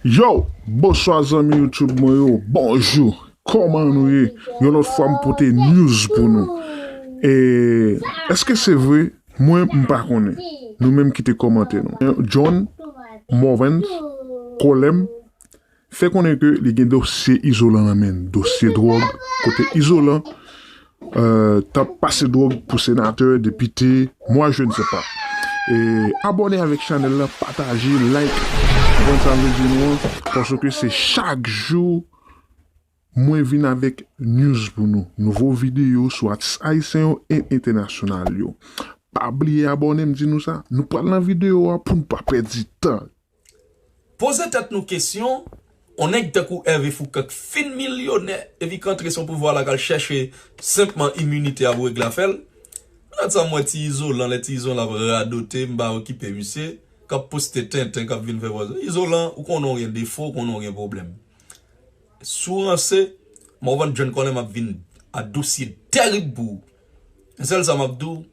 Yow! Bonswa zanmi YouTube mwen yo, bonjou! Kòman nou ye? Yon lòt fwa m pote news pou nou. E, èske se vre? Mwen, m pa konnen. Nou menm kite kòmantè nou. John Morvens Colem fè konnen ke li gen dosye Izolan nan men l. Dosye dwòg kote Izolan Tap pase drog pou senatè, depite, moi je ne sais pas. Abone avek chanel la pataje like konprann sa mvle di nou an paske se chak jou mwen vin avek news pou nou nouvo video sou atis ayisyen yo e entènasyonal yo pa bliye abone mdi nou sa nou pral nan video a poun pa pèdi tan. Poze tèt nou kesyon, on nèg tankou Hervé Foucan k fin milyonè epi k antre sou pouvwa la k al chèche senpman iminite ap regle afè l. Lòt sa m wè ti Izolan, lè ti Izolan ap radote m pa okipe misye, k ap poste tenten k ap vin fè vwa. Izolan ou konnen w gen defo, ou konnen w gen pwoblèm. Si w ranse, Morvan John Colin m ap vin a dosye tèrib pou ou. Sèl sa m ap di w,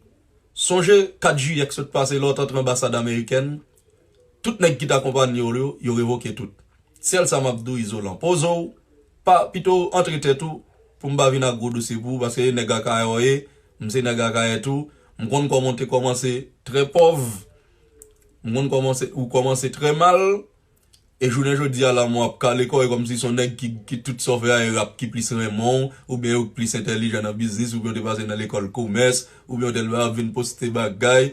sonje 4 jiyè k sot pase lè w t antre anbasad amerikèn, Tout nèg ki t akonpanyew yo, yo revoke tout. Sèl sa map diw Izolan, pozew, pa pitow antre tèt ou pou m pa vin ak gwo dosye pou ou paske e nèg Akayè w ye, m se nèg Akayè tou, m konn kòman w te kòmanse trè pòv, m konn kòman w kòmanse trè mal. E jounen jodi a la mwen ap kale kò e kòmsi son nèg ki tout sa w fè a e rap ki plis renmen w oubyen yo k plis entèlijan nan biznis oubyen w te pase nan lekòl komès oubyen w tèlman ap vin poste bagay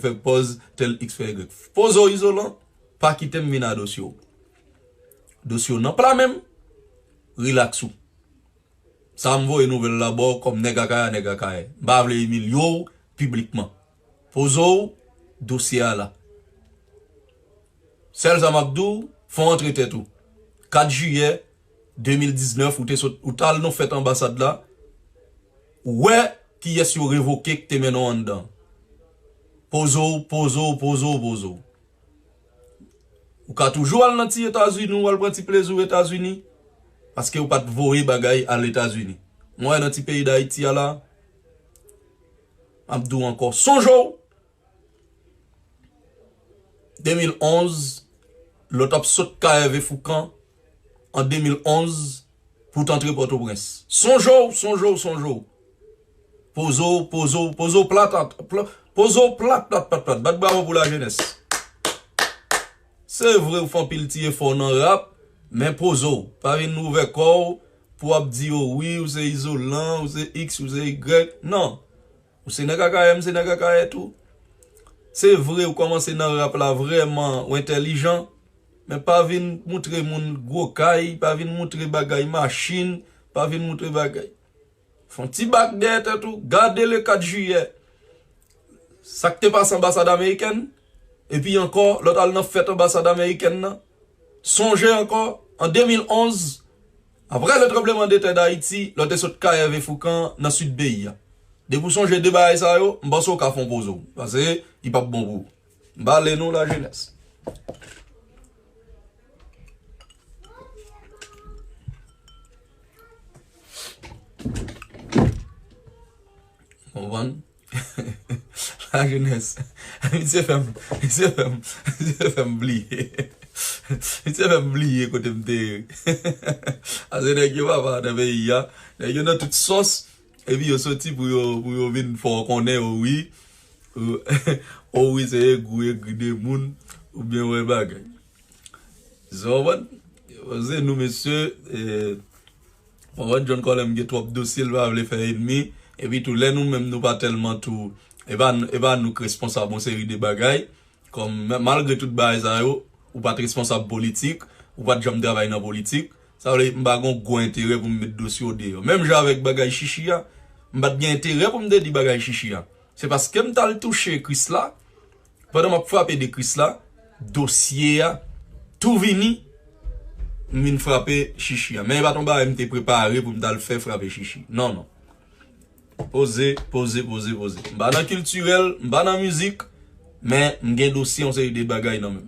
fè pòz tèl iks fè ygrèk poze w izolan pa kite m vin a dosye w dosye w nan pla men m rilaks ou sa m voye nouvèl la ba w kòm nèg akayè a nèg akayè m pa vle imilye w piblikman. Poze w dosye a la. Sèl sa m ap di w, fò w antre tèt ou. 4 jiyè 2019 ou te sot, ou t al nan fèt anbasad la, ou wè kiyès yo revoke k te mennen w anndan. Poze w, poze w, poze w, poze w. Ou ka toujou al nan ti Etazini w al pran ti plezi w Etazini, paske yo pa t voye bagay al Etazini. Mwen wè nan ti peyi Dayiti a la. Map di w ankò sonje w 2011 lè w tap sot kay Ève Foukan an 2011 pou w t antre Pòtoprens. Sonje w, sonje w, sonje w. Poze w, poze w, poze w plat at, poze w plat plat plat plat. Bat bravo pou lajenès. Se vre w fè anpil ti efò nan rap men poze w. Pa vin ouvè kò w Pou wap di yo wi ou se izolan, ou se iks, ou se igrèk. Non! Ou se nèg akayè, m se nèg akayè tou. Se vre ou kòmanse nan rap la vrèman ou entèlijan, men pa vin moutre moun gwo kay, pa vin moutre bagay machin, pa vin moutre bagay. Fè yon ti bak dèyè tèt ou, gade le 4 jiyè, sa k te pase anbasad amerikèn. Epi ankò, lè w t al nan fèt anbasad amerikèn nan, sonje ankò, an 2011, apre le tremblement de terre d'Haiti, lè w te sot kay Hervé Fourcand nan sid peyi a. Depi w sonje 2 bagay sa yo, m panse w ka fè yon poze w, pase li p ap bon pou ou. M pa ale nou la jenès. Konprann? La jeunesse. Misye fè m, misye fè m, misye fè m bliye. Misye fè m bliye kote m te ye. Pase nèg yo papa nan peyi a, nèg yo nan tout sòs epi yo soti pou yo, pou yo vin fè w konnen o wi, o wi se egri w egri de moun ou byen wè bagay. Sa w konprann? Se nou mesye, Mwen wè John Colem gen twòp dosye l pa vle fè enmi, epi tou lè nou menm nou pa tèlman tou e pa nou k responsab yon seri de bagay kòm malgre tout bagay sa yo ou pat responsab politik ou pat janm travay nan politik sa vle m pa gon gwo enterè pou m met dosye w deyò menm jan avèk bagay Shishi a m pat gen enterè pou m te di bagay Shishi a se paske m t al touche Krisla Pandan map frape de kris la dosye a tou vini m vin frape chichi a men e pat yon bagay m te prepare pou m tal fè frape chichi nan nan poze poze poze poze m pa nan kiltirèl m pa nan mizik men m gen dosye yon seri de bagay nan menm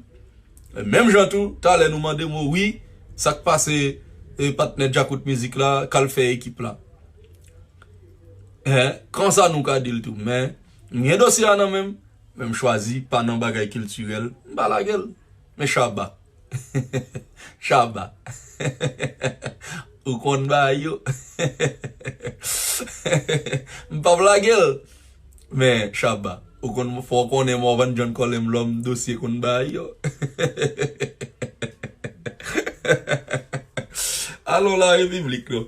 e menm jan tou talè nou mande m wi sak pase e patnè djakout mizik la kal fè ekip la e konsa nou ka dil tou men. M gen dosye a nan men m, men m chwazi pa nan bagay kiltirèl, m pa lage l. Men Shabba. Shabba. Ou konn bagay yo. M p ap lage l. Men Shabba. Ou konn, fò w konnen Morvan John Kòlè m lòm dosye konn bagay yo. Alon la Repiblik non.